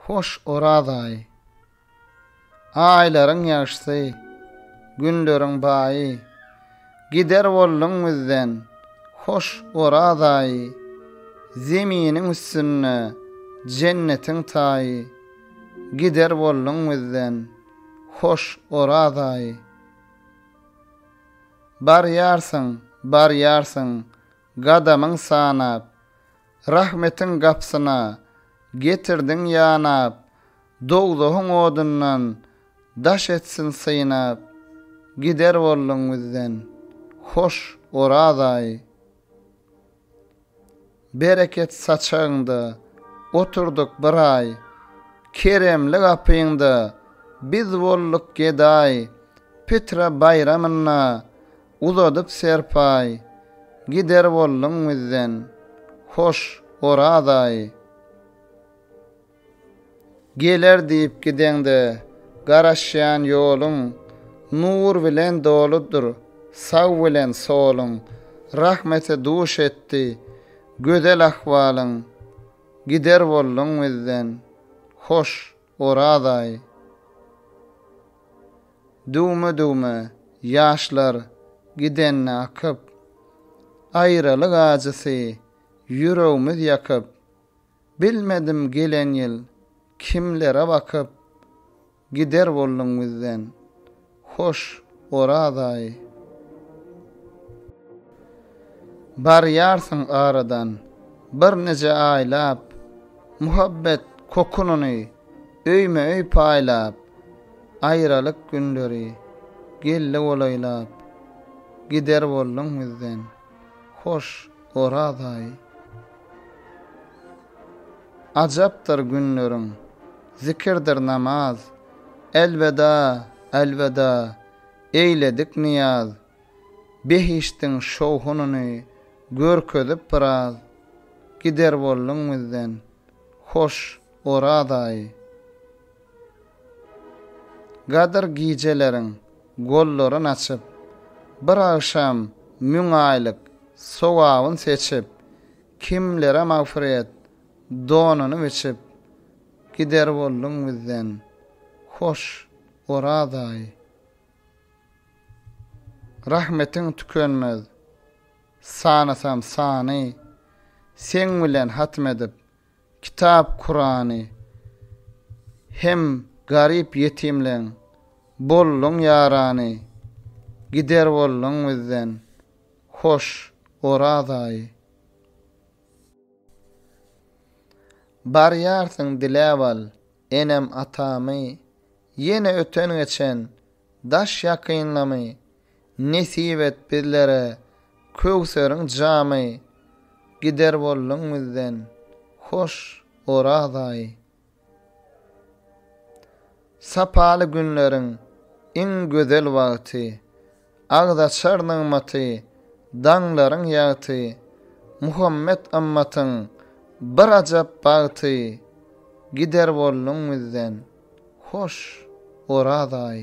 Hoş Oraz aýy. Aýlaryň ýagşysy, günleriň baýy, Gider bolduň bizden, hoş Oraz aýy. Zeminiň üstünde jennetiň taýy, Gider bolduň bizden, hoş Oraz aýy. Barýarsyň, barýarsyň, gadamyň sanap, Rahmetiň gapsyna getirdiň ýanap, Dowzahyň odundan daş etsin synap, Gider bolduň bizden, hoş, Oraz aýy. Bereket saçagyňda oturdyk bir aý, Keremli gapyňda biz bolduk gedaý. Pitre baýramynda uzadyp serpaý, Gider bolduň bizden, hoş Oraz aýy. Geler diýip gideňde, garaşýan ýoluň Nur bilen doludyr, sag bilen soluň Rahmete duş etdi, gözel ahwalyň Gider bolduň bizden, hoş, Oraz aýy. Düwme-düwme ýaşlar gidende akyp, Aýralyk ajysy ýüregmiz ýakyp, Bilmedim gelen ýyl kimlere bakyp, Gider bolduň bizden, hoş Oraz aýy. Barýarsyň aradan birnije aýlap, Muhabbet kokunyny öýme-öý paýlap, Aýralyk günleri geldi golaýlap, Gider bolduň bizden. Hoş, Orazaý! Ajapdyr günleriň, zikirdir namaz, Elweda, elweda, eýledik nyýaz. Behişdiň şowhunyny görkezip biraz, Gider bolduň bizden, hoş, Orazaý! Gadyr gijeleriň gollaryn açyp, Bir agşam müň aýlyk sogabyn seçip, Kimlere magfyret donuny biçip, Gider bolduň bizden, hoş, Oraz-aý. Rahmetiň tükenmez, sanasam sany, Seň bilen hatm edip, Kitap Kurany hem garyp ýetimleň bolduň ýarany gider bolduň bizden hoş Oraz aýy. Barýarsyň diläp al enem atamy ýene öten geçen daş ýakynlamy Nesip et bizlere köwseriň jamy, Gider bolduň bizden, hoş Oraz aýy. Sapaly günleriň iň gözel wagty, Agzaçar nygmaty, daňlaryň ýagty, Muhammet ymmatyň bir ajap bagty, Gider bolduň bizden, hoş Oraz aýy.